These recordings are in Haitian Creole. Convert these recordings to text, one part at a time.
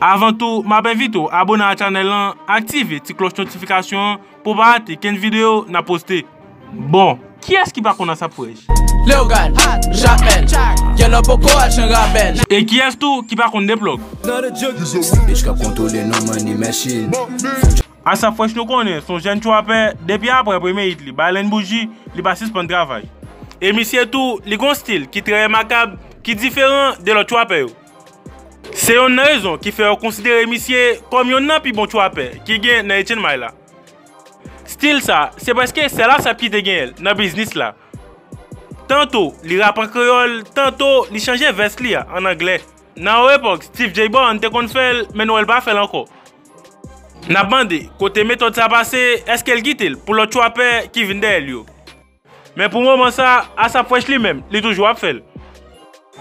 Avan tou map envite w abone a chanel lan aktive ti kloch notifikasyon an pou w pa rate kenn video nap poste. Bon kiyès ki pa konn asap frèch? Leogane, Jamèl, Dyèlò poko al chan rabèl. E kiyès tou ki pa konn deplòk? Snap bitch kap kontwole nou money machine. Asap frèch nou konnen son jèn trapè depi aprè premye hit li Baleine Bougie li pa sispann travay. E misye tou li gon stil ki trè remakab ki diferan de lòt trapè yo. Se yonn nan rezon ki fè yo konsidere misye kòm yonn nan pi bon trapè ki gen nan Etienne May la. Stil sa, se prèske sèl ASAP ki te genyen l nan biznis la. Tanto li rap an kreyòl, tanto li chanje vès li a an anglè. Nan yon epòk Steve Jay Born te konn fè l men nou wè l pa fè l ankò. N ap mande kote metòd sa pase, èske l kite l pou lòt trapè ki vin dèyè l yo? Men pou moman sa, Asap Fresh li menm, li toujou ap fè l.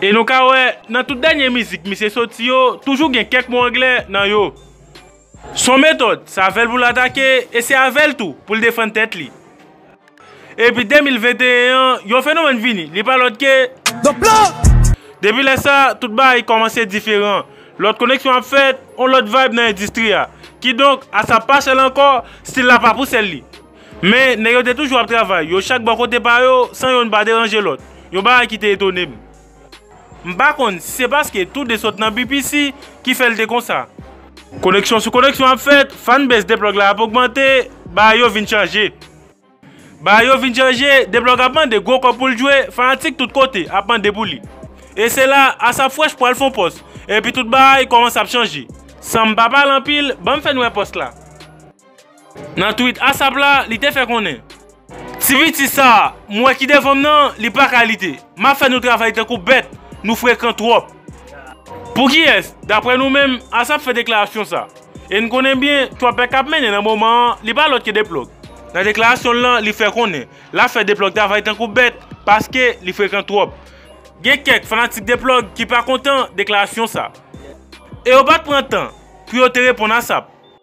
E nou ka wè, nan tout dènye mizik misye soti yo, toujou gen kèk mo anglè nan yo. Son metòd, se avè l pou l atake, e se avè l tou pou l defann tèt li. Epi 2021 an, yon fenomèn vini, li pa lòt ke. Depi lè sa, tout bagay kòmanse diferan. Lòt koneksyon ap fèt, yon lòt vayb nan endistri a. Kidonk, Asap pa sèl ankò, stil la pa pou sèl li. Men, nèg yo te toujou ap travay, yo chak bò kote pa yo, san yonn pa deranje lòt. Yon bagay ki te etone m. M pa konn si se paske tou de sot nan BPC ki fè l te konsa. Koneksyon sou koneksyon ap fèt, fanbase Dplog la ap ogmante, bagay yo vin chanje. Bagay yo vin chanje, Dplog ap mande gwo kòb pou l jwe, fanatik tout kote ap mande pou li. E se la, Asap Fresh pral fon pòs, epi tout bagay kòmanse ap chanje. San m pa pale anpil, ban m fè n wè pòs la. Nan tweet Asap la, li te fè konnen. Ti piti sa a m wè ki devan m nan, li pa kalite. M ap fè nou travay tankou bèt, nou frekan twòp. Pou kiyès, daprè nou menm, Asap fè deklarasyon sa? E n konnen byen, twòpè k ap mennen nan moman an, li pa lòt ke Deplòg. Nan deklarasyon l lan, li fè konnen, l ap fè Deplòg travay tankou bèt, paske li frekan twòp. Gen kèk fanatik Deplòg ki pa kontan deklarasyon sa. E yo pa t pran tan pou yo te reponn Asap.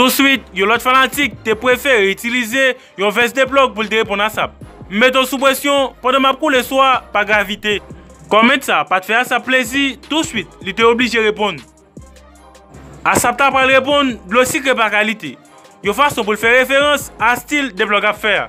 Touswit, yon lòt fanatik te pwefere itilize yon vès de plòg pou l te reponn Asap. M mete w sou presyon pandan m ap koule sou a pa gravite. Kòment sa pa t fè Asap plezi, touswit li te oblije reponn. Asap ta pral reponn dlo sikre pa kalite, yon fason pou l fè referans a stil de plòg ap fè a.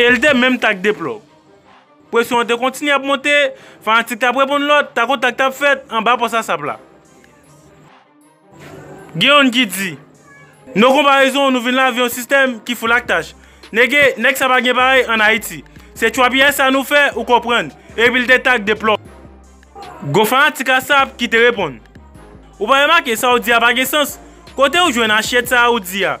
E li te menm tak de plò. Presyon an te kontinye ap monte, fanatik t ap reponn lòt, tak o tak t ap fèt anba pòs asap la. Gen youn ki di, No konparezon nou vin la avyon sistèm ki foul ak tach. Nege, nèg sa pa gen parèy an Ayiti. Se tchwapiyay sa nou fè ou konprann. Epi li te tak de plò. Gon fanatik asap ki te reponn. Ou pa remake sa ou di a pa gen sans? Kote ou jwenn asyèt sa a ou di a?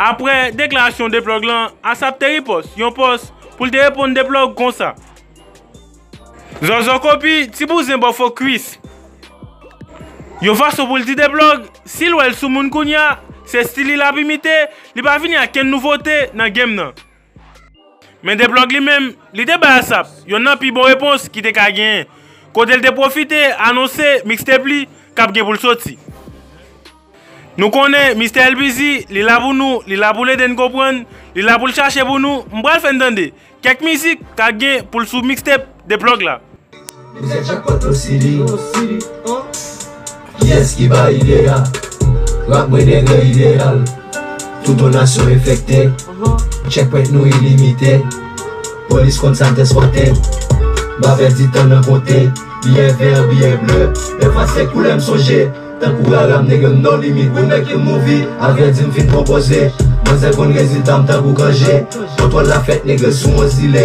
Aprè deklarasyon Deplòg lan, Asap te ripòs yon pòs pou l te reponn Deplòg konsa, Zòzò kopi ti bouzen ba w fo kwis. Yon fason pou l di Deplòg si l wè l soumoun kounya se stil li l ap imite, li pa vini ak kenn nouvote nan game nan. Men Deplòg li menm, li te bay ASAP yonn nan pi bon repons ki te ka genyen, kote li te pwofite anonse mixtape li k ap gen pou l soti. Nou konnen Mistè El Busy, li la pou nou, li la pou l ede n konprann, li la pou l chache pou nou, m pral fè n tande kèk mizik k a gen pou l sou mixtape De plug la. Ou se jackpot ou sidi Kiyès ki bay ide a Rap mwen degre ideyal Touton nasyon enfekte Checkpoint nou ilimite Polis konn sa tès wate M pa pèdi tan nan konte Biyè vè, biyè ble Lè fas se koulè m sonje Tankou rara m nègre m no limit We make a movie Avè di m fin konpoze Manzè konn rezilta m tankou kanje Kontwòl la fèt nègre sou yon zile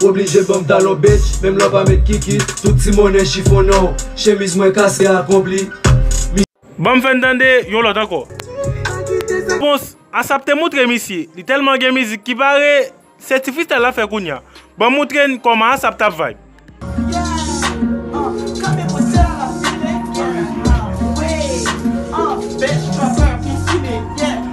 W oblije ban m talon bitch menm lè w pa met kiki Tout ti monnen chifonnen w Chemiz mwen kase ak on pli. Ban m fè n tande yon lòt ankò Repons, Asap te moutre misye Li tèlman gen mizik ki pare Se ti freestyle l ap fè kounya Ban m moutre n kòman Asap t ap vibe.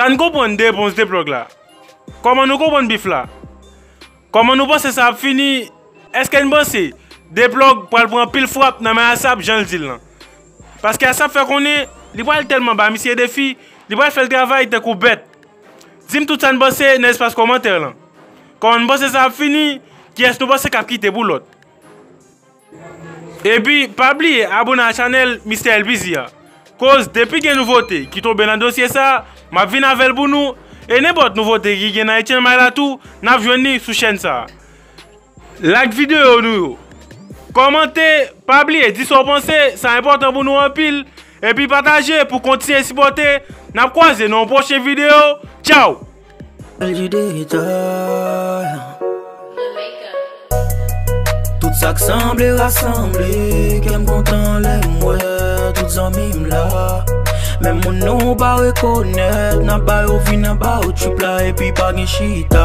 Sa n konprann de epons de plòg la? Kòman nou konprann bif la? Kòman nou panse sa ap fini? Eske n panse de plòg pral pran anpil frap nan men asap jan l di l lan? Paske asap fè konnen li pral tèlman ba misye defi li pral fè l travay tankou bèt. Dim tout sa n panse nan espas kòmantè lan. Kòman n panse sa ap fini, kiyès nou panse kap kite pou lòt. Epi pa bliye abone a chanèl Mister Elpizi a koz depi gen nouvote ki tonbe nan dosye sa map vin avèl pou nou e nenpòt nouvote ki gen nan Etienne Maille la tou nap jwenn li sou chèn sa. Like video nou yo. Kòmante, pa bliye di sa w panse, sa enpòtan pou nou anpil. Epi pataje pou kontinye sipòte. N ap kwaze nan yon pwochen video. Tchaw! Bèljè detay Tout sa k sanble rasanble Kè m kontan lè m wè tout zanmi m la Menm moun nou pa rekonèt N ap ba yo vi, n ap ba yo trip la Epi pa gen chita